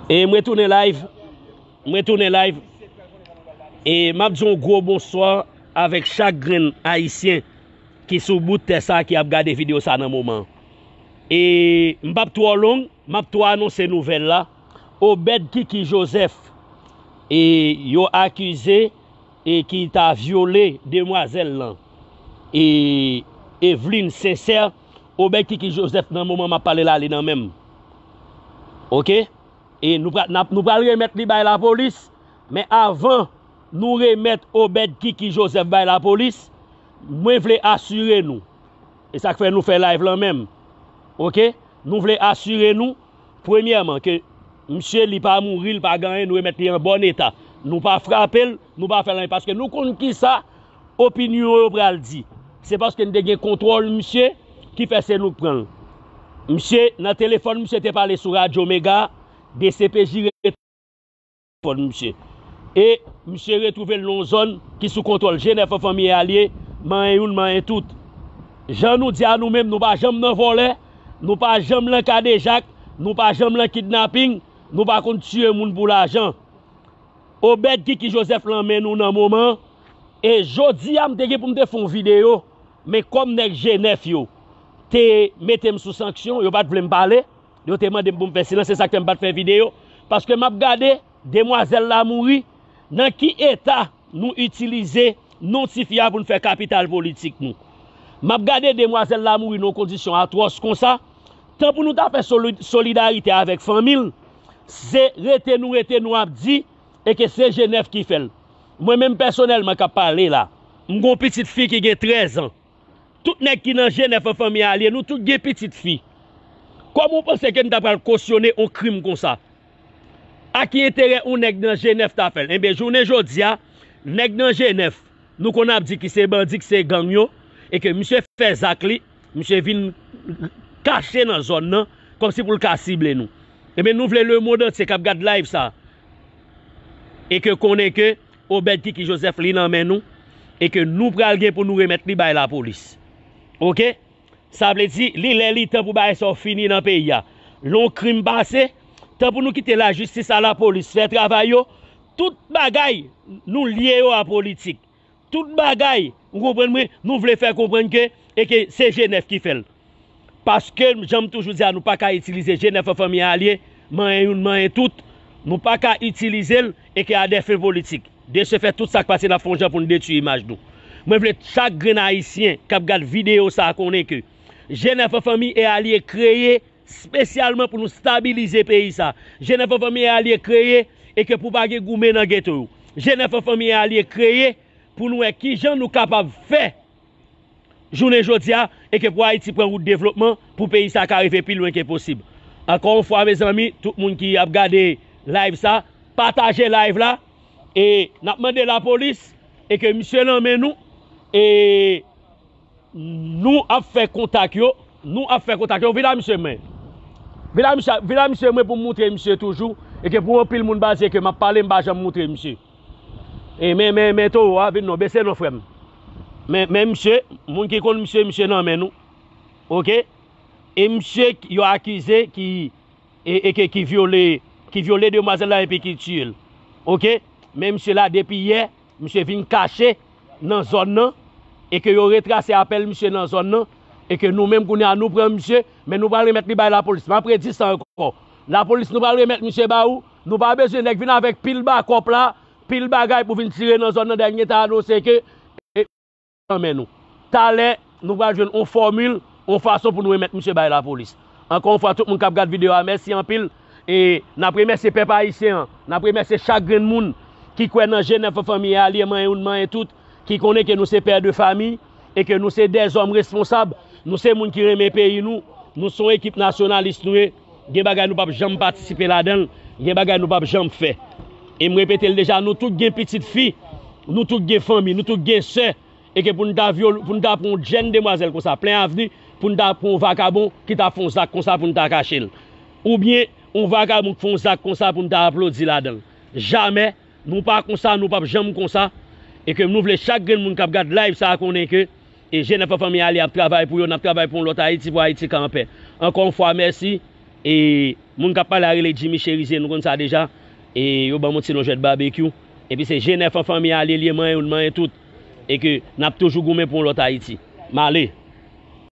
E mwen tounen live Mwen tounen live E map di yon gwo bonswa Avèk chak grenn ayisyen Ki sou bout tè sa ki ap gade video sa nan moman E m pap twò long Map twò anonse nouvèl la Obed kiki joseph E yo akize E ki ta vyole demwazèl lan E Evelyne sincère Obed kiki Joseph nan moman map pale la li nan menm ok e nou pral nap nou pral remèt li bay lapolis men avan nou remèt Obed kiki Joseph bay lapolis mwen vle asire nou e sak fè nou fè live lan menm ok nou vle asire nou premyèman ke misye li pa mouri li pa gen anyen nou remèt li an bòn eta nou pa frapel nou pa fèl anyen paske nou konn kisa opinyon yo pral di. Se paske n te gen kontwòl misye ki fè se nou k pran l. Misye nan telefòn misye te pale sou radyo mega, dcpj rete telefòn misye. E misye retwouve l nan yon zòn ki sou kontwòl Jenè Fanfanmi e alye, manyen youn manyen tout. Jan nou di a nou menm nou pa janm nan vòlè, nou pa janm lan kadejak, nou pa janm lan kidnaping, nou pa konn tiye moun pou lajan. Obed Kiki Joseph lan men nou nan moman e jodia m te gen pou m te fè yon video men kòm nèg G9 yo te mete m sou sanksyon yo pat vle m pale yo te mande m pou m fè silans se sak fè m pat fè video paske map gade demwazèl la mouri nan ki eta nou itilize non tifi a pou n fè kapital politik nou map gade demwazèl la mouri nan yon kondisyon atwòs konsa tan pou nou ta fè solidarite avèk fanmi l Se rete nou rete nou ap di e ke se Jenèf ki fè l. Mwen menm pèsonèlman k ap pale la, m gen yon pitit fi ki gen trèz an. Tout nèg ki nan Jenèf an fanmi a lye, nou tout gen pitit fi. Kòman ou panse ke n ta pral kosyone yon krim konsa? A ki enterè yon nèg nan Jenèf ta fè l? Enben, jounen jodi a, nèg nan Jenèf, nou konn ap di ki se bandi, ki se gang yo, e ke misye fè zak li, Misye vin kache nan zòn nan kòmsi pou l ka sible nou. Ebyen nou vle lemond antye k ap gad live sa e ke konnen ke Obed Kiki Joseph li nan men nou e ke nou pral gen pou nou remèt li bay lapolis. Ok? Sa vle di li lè li tan pou bagay sa yo fini nan peyi a. Lè yon krim pase, tan pou nou kite lajistis a lapolis fè travay yo, tout bagay nou lye yo a politik. Tout bagay, ou konprann mwen, nou vle fè konprann ke e ke se G9 ki fè l. Paske jan m toujou di a nou pa ka itilize G9 an fanmi alye, manyen youn manyen tout, nou pa ka itilize l e ke a dè fen politik. De se fèt tout sa k pase n ap fè yon jan pou n detui imaj nou. Mwen vle chak grenn ayisyen k ap gad videyo sa konnen ke G9 an fanmi e alye kreye. spesyalman pou nou stabilize peyi sa Jenèf an Fanmi e Alye kreye e ke pou pa gen goumen nan geto yo Jenèf an Fanmi e Alye kreye pou nou wè ki jan nou kapab fè jounen jodi a e ke pou Ayiti pran wout devlopman pou peyi sa ka rive pi lwen ke posib ankò yon fwa mezanmi tout moun ki ap gade live sa pataje live la e n ap mande lapolis e ke misye nan men nou e. Nou ap fè kontak yo. Nou ap fè kontak yo. Vin a misye mwen. Vin a misye, vin a misye mwen pou m moutre misye toujou. E ke pou anpil moun baze ke m ap pale m pa janm moutre misye. E men, men, men towo a, vin non, bese non frè m. Men, men misye, moun ki konn misye, misye nan men nou. Ok? E misye yo akize ki, e, e ke ki vyole, ki vyole demwazèl la epi ki tiye l. Ok? Men misye la depi yè, Misye vin kache nan zòn nan e ke yo retrase apèl misye nan zòn nan e ke nou menm kounye a nou pran misye men nou pral remèt li bay lapolis map redi sa ankò lapolis nou pral remèt misye ba ou nou pa bezwen nèg vin avèk pil bakòp la pil bagay pou vin tire nan zòn nan dènye tan anonse ke nan men nou. Talè, nou pral jwenn yon fòmil, yon fason pou nou remèt misye bay lapolis. Ankò yon fwa, tout moun k ap gad videyo a, mèsi anpil. E, n ap remèsye pèp ayisyen an. N ap remèsye chak grenn moun ki kwè nan je nèf fanmi e alye manyen youn manyen tout, ki konnen ke nou se pè de fami e ke nou se dèzòm responsab, nou se moun ki renmen peyi nou, nou se yon ekip nasyonalis nou ye. Gen bagay nou pap janm patisipe ladan l, gen bagay nou pap janm fè. E m repete l deja, nou tout gen pitit fi, nou tout gen fanmi, nou tout gen sè, e ke pou n ta vyole, pou n ta pran yon jenn demwazèl konsa plen avni, pou n ta pran yon vakabon ki ta fè yon zak konsa pou n ta kache l. Oubyen yon vakabon ki fè yon zak konsa pou n ta aplodi ladan l. Jamè, nou pa konsa, nou pap janm konsa. E ke nou vle chak grenn moun k ap gad live sa konnen ke E Jenèf ak fanmi Alia ap travay pou yo, n ap travay pou yon lòt Ayiti, pou Ayiti ka anpè. Ankò yon fwa mèsi. E moun k ap pale a rele Jimmy Cherizier, nou konn sa deja. E yo ban m yon ti non Jwèt Babekyou. Epi se Jenèf an fanmi Alie l ye, manyen youn, manyen tout. E ke n ap toujou goumen pou yon lòt Ayiti. M ale.